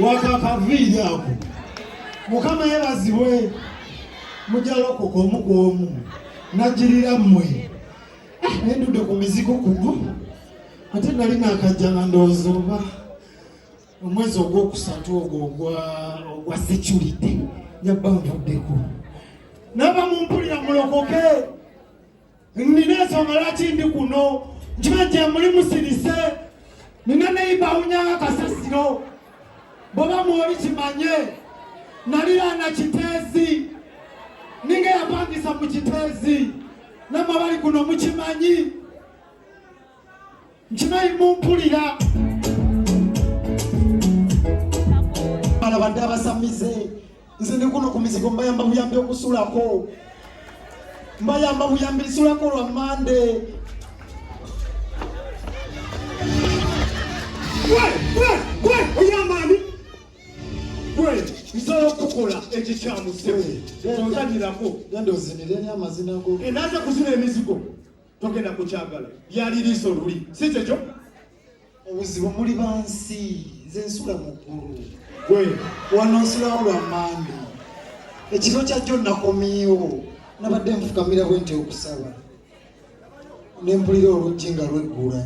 wakakaviiri ako mukama yebazibwe mujalokoka omu ku omu nagirira mmwe ah, nendudde ku mizigo kuno ate nali nakajja nga ndowooza oba omwezi ogwokusatu ogwo ogwa security yabba nvuddeko naba mumpulira mulokoke Nina ensonga lwaki ndi kuno nkiba nti emuli musirise nina neyiba awunyanga akasasiro bwoba mwoli kimanye naliraana kiteezi ninga eyapangisa mu kiteezi namwe abali kuno mukimanyi nkimanyi mumpulira abadde abasamize nze ndi kuno ku mizigo mbayamba buyambi okusulako mbayamba buyambi lisulako lwa mande oyamani gwe nsobola okukukola ekikyamusewo onzanyirako genda ozinire ni amazina go enaza kuzina emizigo togenda kukyagala lyali liiso luli si kyekyo obuzibu muli bansi nze nsula muggulu gwe wano nsulawo lwa mandi ekiro kyajjo nakomiiwo nabadde nfukamira bwe nti okusaba ne mpulira oluggi nga lweggula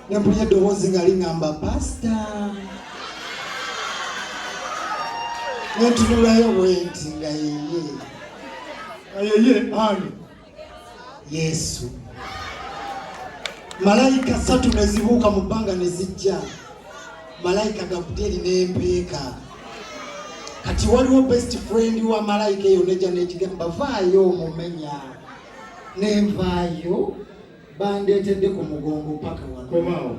ne mpulira eddoboozi nga liŋamba pasita ne ntunulayo bwenti nga yeye nga yeye ani Yesu. Malayika ssatu ne zibuuka mu bbanga ne zijja, malayika Gabudyeri n'empeeka. Kati waliwo best friend wa malayika eyo nejja n'ekigamba vaayo omumenya, ne nvaayo bandeetedde ku mugongo paka wano.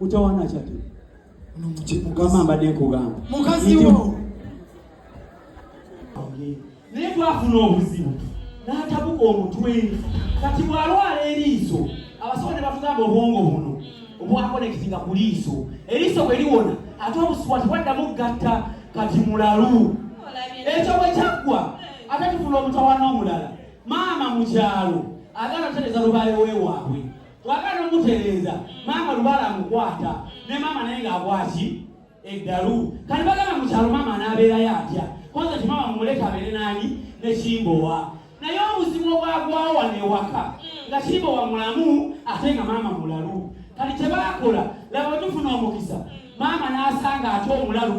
utawana kyatu mukama mbadde nkugamba mukazi wo naye twafuna obuzibu n'atabuka omutwe kati bw'alwala eriiso abasawo ne batugamba obwongo buno obwakonekitinga ku liiso eriiso bwe liwona ate obusubwa tebwaddamu gatta kati mulalu ekyo bwe kyaggwa ate tufuna omutawana omulala maama mu kyalo agala otereza lubaale wewaabwe wagala nomutereeza maama lubala amukwata ne maama naye ng'akwaki eddalu kati bagamba mukyalo maama anaabeerayo atya kwanza ti maama mumuleka abeere naani ne kimbowa naye obuzibu obwagwawo wano ewaka nga kimbowa mulamu ate nga maama mulalu kati kye bakola laba otufuna omukisa maama n'asanga ate omulalu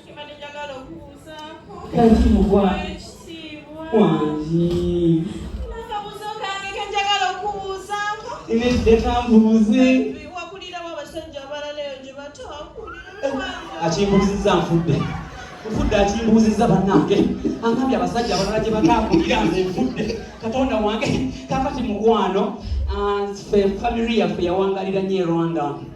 kati mugwa wangi inedde kambuuze akimbuuzizza nfudde nfudde akimbuuzizza bannange angambye abasajja abalala gye batakulira nze nfudde katonda wange kakati mukwano ah, famiri yaffe yawangalira nyo erwanda e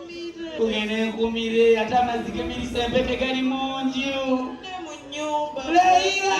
kugenda enkumire ate amazzi gemirisa empeke gali mungi leira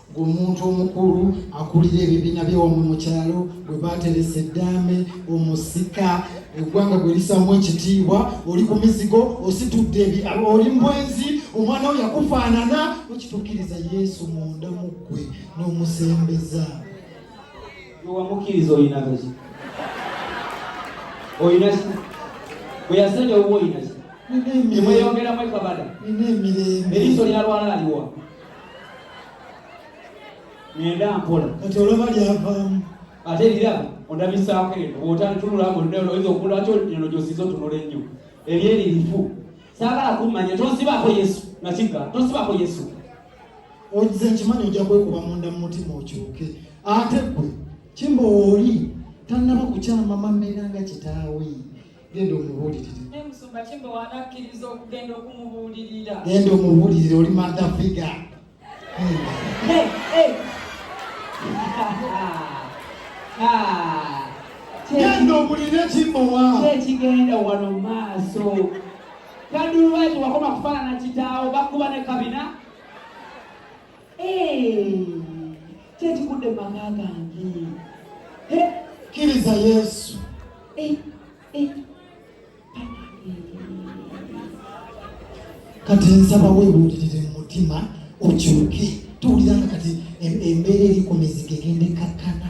ng'omuntu omukulu akulira ebibiina byewamu mu kyalo bwe baateresa eddaame omusika eggwanga gwe lisaamu ekitiibwa oli ku mizigo ositudde oli mbwenzi omwana wo yakufaanana okituukiriza yesu munda mu ggwe n'omusembeza wamukkiriza olinagaki olinaki bwe yasenya obuba olinaki emweyongeramu ekabada eriiso lyalwala aliwa ngenda mpola kati olaba lyavaamu ate era ondabisaako eno bwotantunula ngo nda oyinza okulwaki eno gyosiza otunula ennyo ebyo eri lifu saagala kummanya tonsibaako yesu nakigga tonsibaako yesu ogize nkimanyi ojja kwekuba munda mu mutima okyuke ate gwe kimba oli tannaba kukyama mamera nga kitaawe genda omubuulirire genda omubuulirire oli manda figa genda obulire kimbowa kyekigenda wano maaso kadulwaki wakoma kufaanana kitaawo bakuba ne kabina kyekigudde mu maka gange kkiriza yesu kati nsaba webuulirire mu mutima okyuke tuwuliranga kati embeera eri ku mizigo egenda ekkakkana